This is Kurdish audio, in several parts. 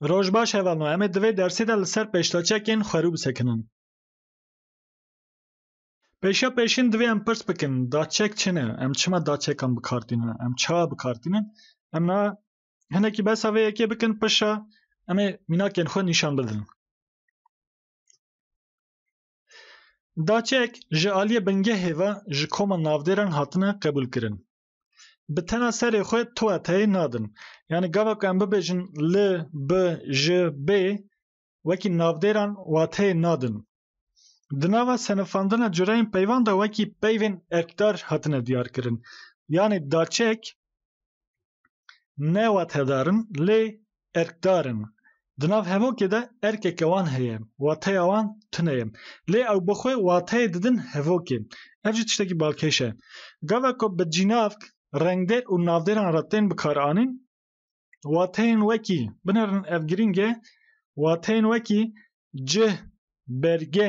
Roj baş hevalno em ê di vê dersê de li ser pêştaçekên xwerû bisekinin. Pêşiya pêşîn divê em pirs bikin daçek çi ne? Em çima daçekan bi kar tînin? Em çawa bi kar tînin? Em na hinekî behsa vê yekê bikin pişa em ê mînakên xwe nîşan bidin. Daçek ji aliyê bingehê ve ji koma navdêran hatine qebûlkirin. Bi tena serê xwe tuateyê nadin. Yanî gava ku em bibêjin li, bi, ji, bê wekî navdêran wateyê nadin. Di nava senifandina cureyên peyvan de wekî peyvên erkdar hatine diyarkirin. Yanî daçek ne watedar in lê erkdar in. Di nav hevokê de erkeke wan heye, wateya wan tune ye. Lê ew bi xwe wateyê didin hevokê. Ev jî tiştekî balkêş e. Gava ku bi cînavk, rengdêr û navdêran re tên bikaranîn, wateyên wekî, binêrin ev girîng e, wateyên wekî cih, berge,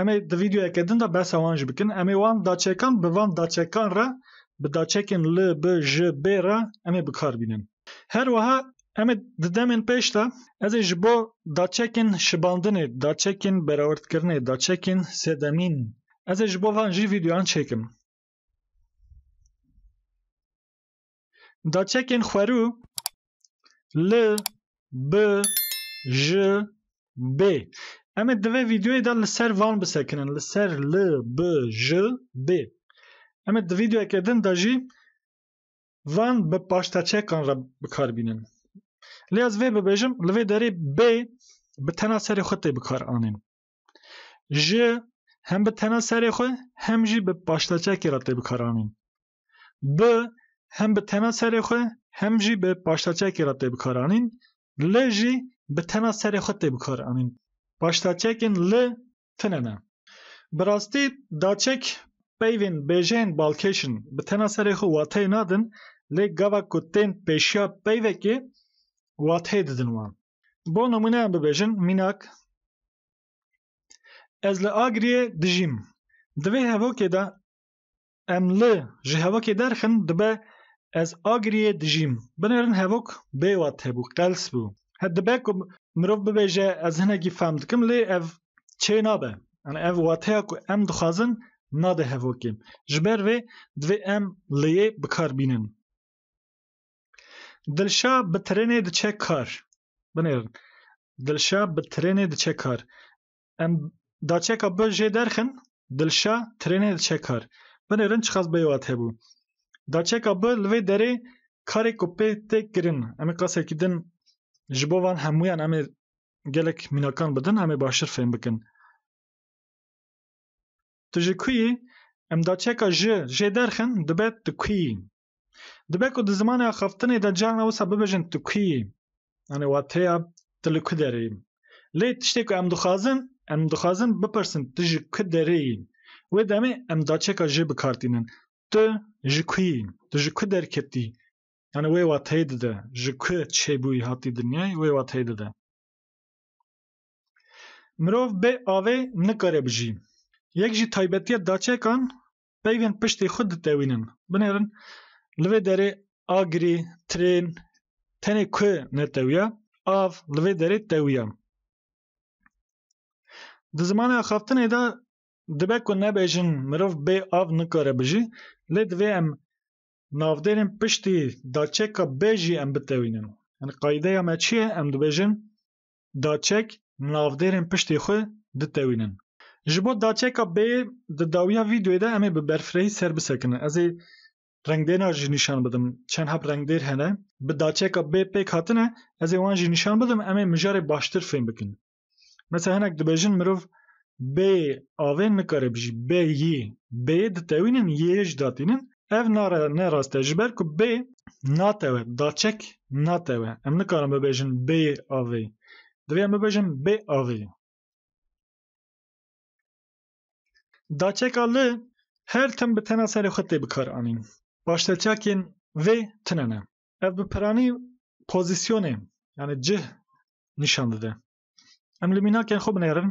Em ê di vîdyoyeke din de behsa wan jî bikin. Em ê wan daçekan bi van daçekan re bi daçekên li, bi, ji, bê re em ê bikar bînin. Her wiha em ê di demên pêş de ez ê ji bo daçekên şibandinê, daçekên berawerdkirinê, daçekên sedemîn ez ê ji bo van jî vîdyoyan çêkim. Da çekên xwerû L, B, J, B. Em ê divê vîdyoyê de li ser van bisekinin. Li ser L, B, J, B. Em ê di vîdyoyeke din de jî van bi paşteçekan re bikar bînin. Lê ez vê bibêjim li vê derê B bi tena serê xwe tê bikar anîn. J hem bi tena serê xwe hem jî bi paşteçekê re tê bikar anîn. Bi hem bi tena serê xwe hem jî bi paştaçekê re tê bikaranîn. Li jî bi tena serê xwe tê bikaranîn. Paştaçekên li tune ne. Bi rastî daçek peyvên bêjeyên balkêş in. Bi tena serê xwe wateyê nadin lê gava ku tên pêşiya peyvekê wateyê didin wan. Bo nimûne em bibêjin, Mînak, Ez li Agiriyê dijîm. Di vê hevokê de Em li ji hevokê derxin dibe ez agiriyê dijîm. Binêrin hevok bê wat hebû, qels bû. He dibe ku mirov bibêje ez hinekî fehm dikim lê ev çê nabe. Yanî ev wateya ku em dixwazin nade hevokê. Ji ber vê divê em lêyê bi kar bînin. Dilşa bi tirênê diçe kar. Binêrin Dilşa bi tirênê diçe kar. Em da çeka bi jê derxin, Dilşa trênê diçe kar. Binê rin çiqas bêwat hebû. Da çeka bi li vê derê karê ku pê tê kirin, em ê qasekî din ji bo van hemûyan em ê gelek mînakan bidin em ê baştir fêm bikin. Tu ji ku yî? Em da çeka ji jê derxin, dibe tu ku yî? Dibe ku di zimanê axaftinê de carna wisa bibêjin tu kî yî? Yanî wateya tu li ku derê yî. Lê tiştê ku em dixwazin, em dixwazin bipirsin tu ji ku derê yî? Wê demê em daçeka jê bi kar tînin. Tu ji ku yî? Tu ji ku derketî? Yanî wê wateyê dide. Ji ku çêbûyî hatî dinyayê wê wateyê dide. Mirov bê avê nikare bijî. Yek ji taybetiya daçekan peyvên piştî xwe ditewînin. Binêrin li vê derê agirî, trên, tenê ku netewiya, av li vê derê tewiya. Di zimanê axaftinê de dibe ku nebêjin mirov bê av nikare bijî, lê divê em navdêrên piştî daçeka bê jî em bitewînin. Qayîdeya me çi ye? Em dibêjin daçek navdêrên piştê xwe ditewînin. Ji bo daçeka bê di dawiya vîdeoyê de em ê bi berfirehî ser bisekinin. Ez ê rengdêrna jî nîşan bidim. Çend heb rengdêr hene. Bi daçeka bê pêk hatine. Ez ê wan jî nîşan bidim. Em ê mijarê baştir fêm bikin. Mesela hinek dibêjin mirov bê avê nikare bijî, bê yî, bê ditewînin, yê jî datînin. Ev nare ne rast e ji ber ku bê natewe, daçek natewe. Em nikarin bibêjin bê avê. Divê em bibêjin bê avê. Daçeka li her tim bi tena serê xwe tê bikaranîn. Paşteçakên vê tune ne. Ev bi piranî pozîsyonê yanî cih nîşan dide. Em li mînakên xwe binêrin.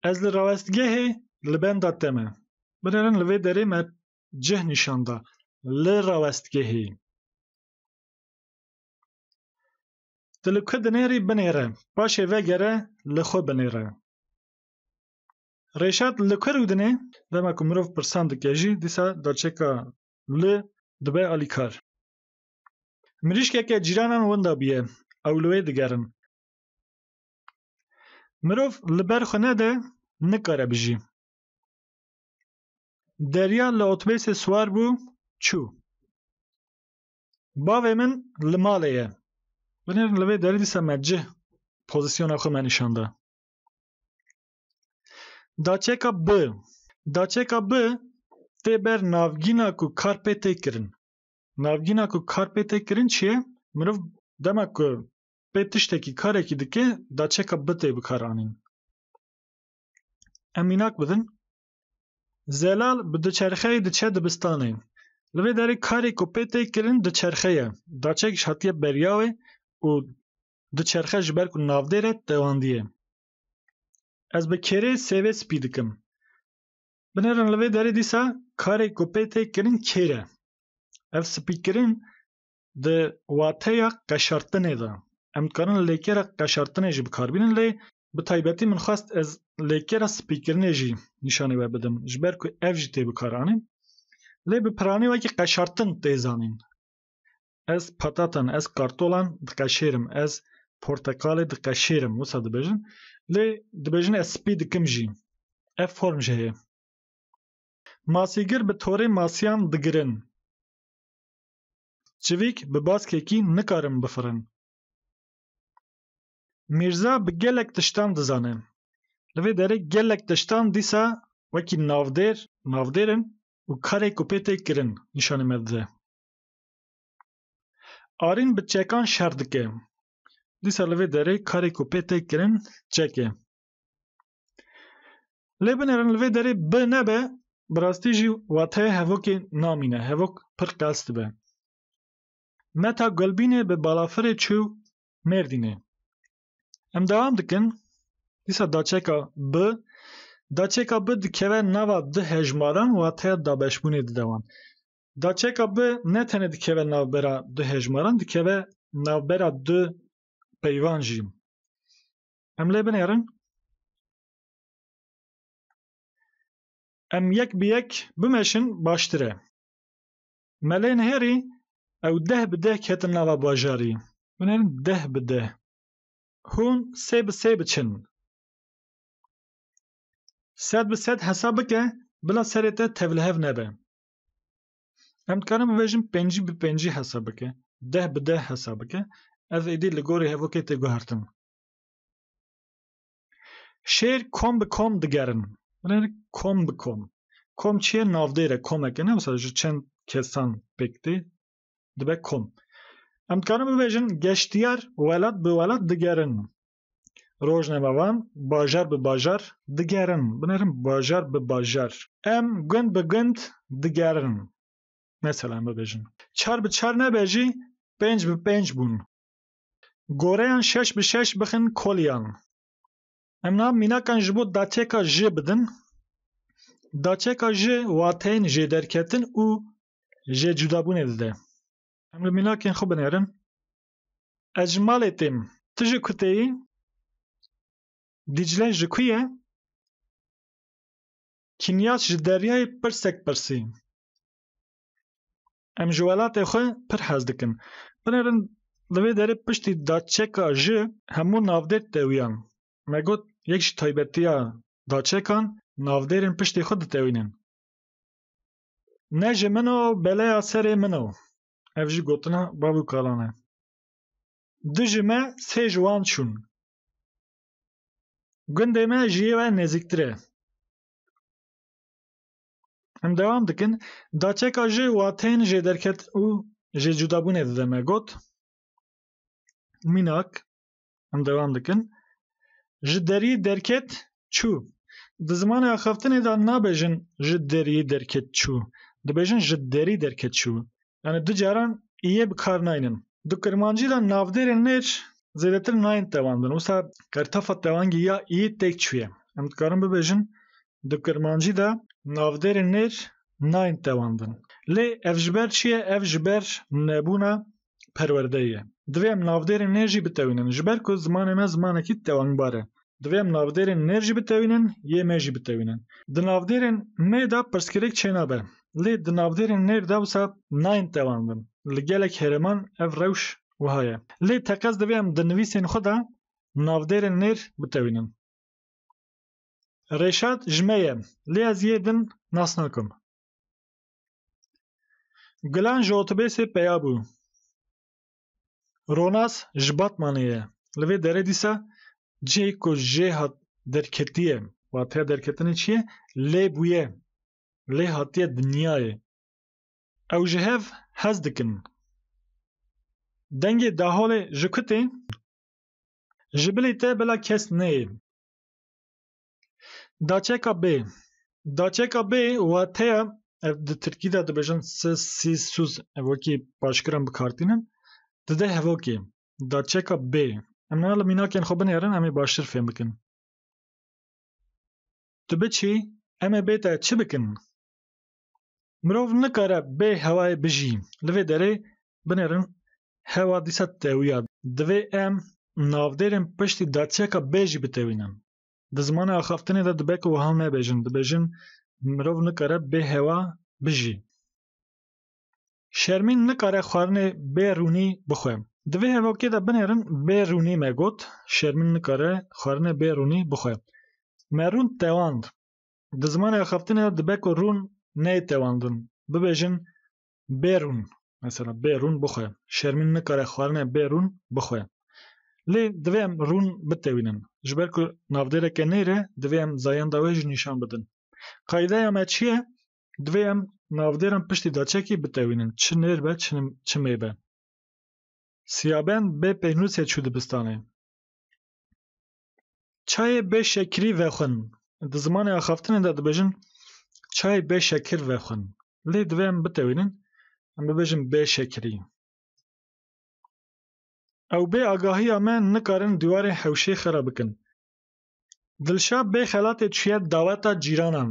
Ez li rawestgehê li benda te me. Binêrin li vê derê me cih nîşan da. Li rawestgehê. Tu li ku dinêrî binêre. Paşê vegere li xwe binêre. Rêşat li ku rûdinê? Dema ku mirov pirsan dike jî dîsa derçeka li dibe alîkar. Mirîşkeke cîranan winda bûye, ew li wê digerin. Mirov li ber xwe nede, nikare bijî. Derya li otobêsê siwar bû, çû. Bavê min li malê ye. Binêr li vê derê dîsa me cih pozîsyona xwe me nîşan da. Daçeka B. Daçeka B tê ber navgîna ku kar pê tê kirin. Navgîna ku kar pê tê kirin çi ye? Mirov dema ku pê tiştekî karekî dike daçeka bi tê bikaranîn. Em mînak bidin. Zelal bi diçerxeyê diçe dibistanê. Li vê derê karê ku pê tê kirin diçerxe ye. Daçek ji hatiye beriya wê û diçerxe ji ber ku navdêr e tewandiye. Ez bi kêrê sêvê spî dikim. Binêrin li vê derê dîsa karê ku pê tê kirin kêr e. Ev spîkirin di wateya qeşartinê de. Em dikarin lêkera qeşartinê jî bikarbînin lê bi taybetî min xwest ez lêkera spîkirinê jî nîşanî we bidim ji ber ku ev jî tê bikaranîn. Lê bi piranî wekî qeşartin tê zanîn. Ez patatan, ez kartolan diqeşêrim, ez porteqalê diqeşêrim wisa dibêjin. Lê dibêjin ez spî dikim jî. Ev form jî heye. Masîgir bi torê masiyan digirin. Çivîk bi baskekî nikarin bifirin. Mîrza bi gelek tiştan dizane. Li vê derê gelek tiştan dîsa wekî navdêr, navdêr in û karê ku pê tê kirin nîşanê me dide. Arîn bi çekan şer dike. Dîsa li vê derê karê ku pê tê kirin çek e. Lê binêrin li vê derê bi nebe bi rastî jî wateyê hevokê namîne, hevok pir qels dibe. Meta Gulbînê bi balafirê çû Mêrdînê. Em dewam dikin, dîsa daçeka bi Daçeka bi dikeve nava du hejmaran wateya dabeşbûnê dide wan. Daçeka bi ne tenê dikeve navbera du hejmaran dikeve navbera du peyvan jî. Em lê binêrin. Em yek bi yek bimeşin baştir e. Me lê nihêrî ew deh bi deh ketin nava bajarî. Binêrin deh bi deh. Hûn sê bi sê biçin. Sed bi sed hesab bike bila serê te tevlihev nebe. Em dikarin bibêjin pêncî bi pêncî hesa bike, deh bi deh hesa bike, ev êdî li gorî hevokê tê guhertin. Şêr kom bi kom digerin. Binêr kom bi kom. Kom çi ye? Navdêr e, komek e ne wisa ji çend kesan pêk tê dibe kom. Em dikarin bibêjin geştiyar welat bi welat digerin. Rojname wan bajar bi bajar digerin. Binerin bajar bi bajar. Em gund bi gund digerin. Mesela em bibêjin. Çar bi çar nebe jî pênc bi pênc bûn. Goreyan şeş bi şeş bixin koliyan. Em niha mînakan ji bo daçeka ji bidin. Daçeka ji wateyên jêderketin û jêcudabûnê dide. Em li mînakên xwe binerin. Ez ji malê têm. Tu ji ku tê yî? Dîcle ji ku ye? Kîmyas ji Deryayê pirsek pirsî. Em ji welatê xwe pir hez dikin. Binêrin li vê derê piştî daçeka ji hemû navdêr tewiyan. Me got yek ji taybetiya daçekan navdêrên piştî xwe ditewînin. Ne ji min o beleya serê min o. Ev jî gotina bav û kalan e. Di ji me sê ji wan çûn. Gundê me ji yê we nezîktir e. Em dewam dikin, Daçeka ji wateyên jêderket û jêcudabûnê dide me got, Mînak, Em devam dikin. Ji deriyê derket çû. Di zimanê axaftinê de nabêjin ji deriyê derket çû. Dibêjin ji derî derket çû. Yani du caran yê bi kar naynin. Di Kirmancî de navdêrên mêr zêdetir nayên tewandin. Wisa qertafa tewangî ya iyê têk çûye. Em dikarin bibêjin di Kirmancî de navdêrên mêr nayên tewandin. Lê ev ji ber çi ye? Ev ji ber nebûna perwerdeyê ye. Divê em navdêrên nêr jî bitewînin. Ji ber ku zimanê me zimanekî tewangbar e. Divê em navdêrên nêr jî bitewînin, yê me jî bitewînin. Di navdêrên me de pirsgirêk çênabe. Lê di navdêrên nêr de wisa nayên tewandin. Li gelek herêman ev rewş wiha ye. Lê teqez divê em di nivîsên xwe de navdêrên nêr bitewînin. Rêşad ji me ye. Lê ez yê din nas nakim. Gulan ji otobêsê peya bû. Ronas ji Batmanê ye. Li vê derê dîsa cihê ku jê hat derketiye. Wateya derketinê çi ye? Lê bûye. Lê hatiye dinyayê. Ew ji hev hez dikin. Dengê daholê ji ku tê? Ji bilî te bila kes neyê. Daçeka bê Daçeka bê wateya ev di tirkî de dibêjin si sî suz ev wekî paşkiran bikartînin di deh hevokê daçeka bê em ne li mînakên xwe binêrin em ê baştir fêm bikin. Tu biçî em ê bê te çi bikin? Mirov nikare bê hewayê bijî. Li vê derê binêrin hewa dîsa tewîya. Divê em navdêrên piştî daçeka bê jî bitewînin. Di zimanê axaftinê de dibe ku wiha nebêjin, dibêjin mirov nikare bê hewa bijî. Şermîn nikare xwarinê bê rûnî bixwe. Di vê hevokê de binêrin bê rûnî me got, Şermîn nikare xwarinê bê rûnî bixwe. Me rûn tewand. Di zimanê axaftinê de dibe ku rûn neyê tewandin, bibêjin bê rûn mesela bê rûn bixwe şermîn nikare xwarinê bê rûn bixwe. Lê divê em rûn bitewînin. Ji ber ku navdêreke nêr e divê em zayenda wê jî nîşan bidin. Qaydeya me çi ye? Divê em navdêran piştî daçekî bitewînin çi nêr be çi çi mê be. Siyaben bê pênûsê çû dibistanê. Çayê bê şekirî vexwin. Di zimanê axaftinê de dibêjin çayê bê şekir vexwin. Lê divê em bitewînin em bibêjin bê şekirî. Ew bê agahiya me nikarin dîwarê hewşê xera bikin. Dilşa bê xelatê çûye daweta cîranan.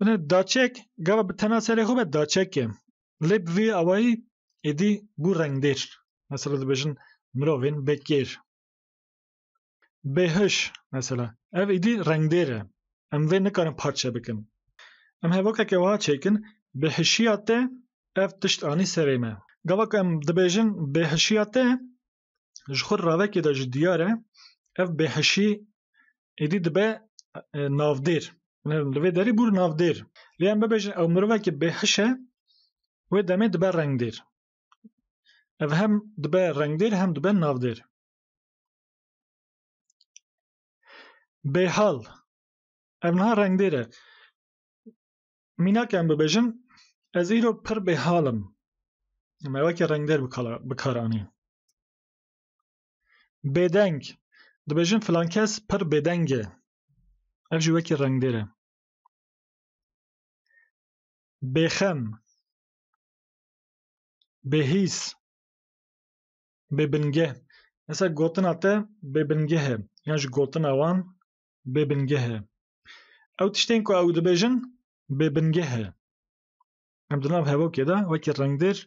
Bine daçek gava bi tena serê xwe be daçek e. Lê bi vî awayî êdî bû rengdêr. Mesela dibêjin mirovên bêkêr. Bêhiş mesela. Ev êdî rengdêr e. Em vê nikarin parçe bikin. Em hevokeke wiha çêkin, bêhişiya te ev tişt anî serê me. Gava ku em dibêjin bêhişiya te Ji xwe ravekê de jî diyar e ev bêhişî êdî dibe navdêr. Li vê derî bûr navdêr. Lê em bibêjin ew mirovekî bêhiş e wê demê dibe rengdêr. Ev hem dibe rengdêr hem dibe navdêr. Bêhal ev niha rengdêr e. Mînak em bibêjin ez îro pir bêhal im. Me wekî rengdêr bi kar anî. Bêdeng, dibêjin filan kes pir bêdeng e. Ev jî wekî rengdêr e. Bêxem, bêhîs, bêbingeh. Mesela gotina te bêbingeh e yan jî gotina wan bêbingeh e. Ew tiştên ku ew dibêjin bêbingeh e. Em di nav hevokê de wekî rengdêr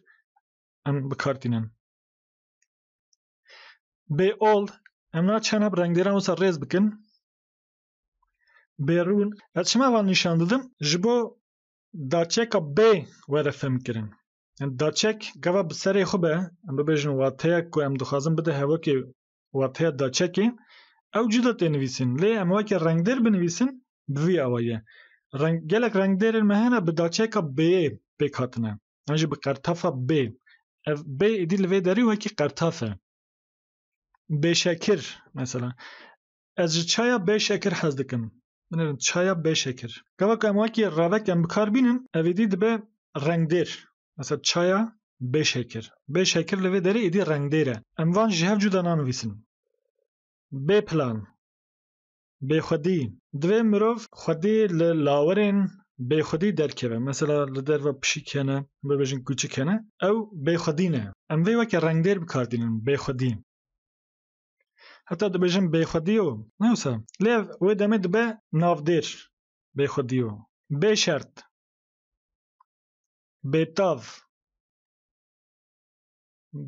em bi kar tînin. Bê ol em naçin hep rengdêran wisa rêz bikin. Bêrûn ez çima van nîşan didim ji bo daçeka bê were fêmkirin. Daçek gava bi serê xwe be em bibêjin wateyek ku em dixwazin bide hevokê wathiya daçekê ew cuda tê nivîsîn lê em weke rengdêr binivîsin bi vî awayê reng gelek rengdêrên me hene bi daçeka bêyê pêk hatine an jî bi qertefa bê ev bê êdî li vê derî wekî qertaf e bêşekir mesela Ez ji çaya bê şekir hez dikim. Binêrin çaya bê şekir. Gava ku em wekî revek em bikar bînin ev êdî dibe rengdêr. Mesela çaya bê şekir. Bê şekir li vê derê êdî rengdêr e. Em van ji hev cuda nanivîsin. Bê plan. Bêxwedî. Divê mirov xwedî li lawerên bêxwedî derkeve. Mesela li derve pişik hene, bibêjin kûçik hene. Ew bêxwedî ne. Em vê weke rengdêr bikar dînin, bêxwedî. Heta dibêjin bêxwedî yo, ne wisa? Lê ev wê demê dibe navdêr, bêxwedî yo, bêşert, bêtav,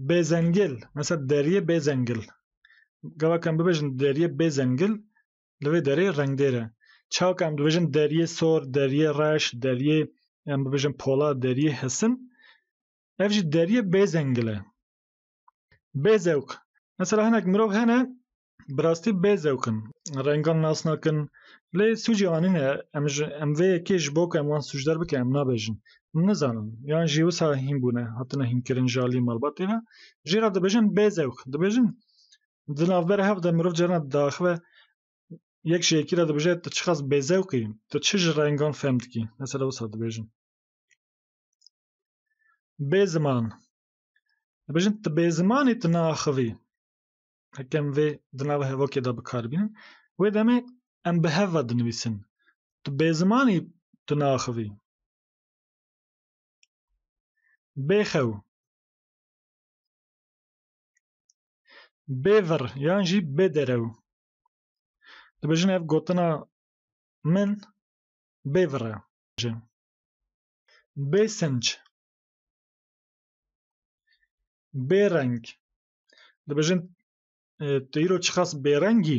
bêzengil, mesela deriyê bêzengil. Gavak em bibêjin deriyê bêzengil, li vê derê rengdêr e. Çawa ku em dibêjin deriyê sor, deriyê reş, deriyê em bibêjin polat, deriyê hesin, ev jî deriyê bêzengil e. Bêzewq. Mesela hinek mirov hene bi rastî bêzewq in. Rengan nas nakin. Lê sûcê wan nîne. Em ji em vê yekê ji bo ku em wan sûcdar bikin em nabêjin. Em nizanin. Yan jî wisa hîn bûne, hatine hînkirin ji aliyê malbatê ve. Jê re dibêjin bêzewq. Dibêjin di navbera hev de mirov carina diaxive yek ji yekî re dibêje tu çiqas bêzewq î, tu çi ji rengan fehm dikî. Mesela wisa dibêjin. Bêziman. Dibêjin tu bê zimanê tu naaxivî. Heke em vê di nava hevokê de bikar bînin. Wê demê em bi hev ve dinivîsin. Tu bê zimanî tu naaxivî. Bêxew. Bêvir yan jî bêderew. Dibêjin ev gotina min bêvir e. Bêsinc. Bêreng. Dibêjin tu îro çiqas bêrengî?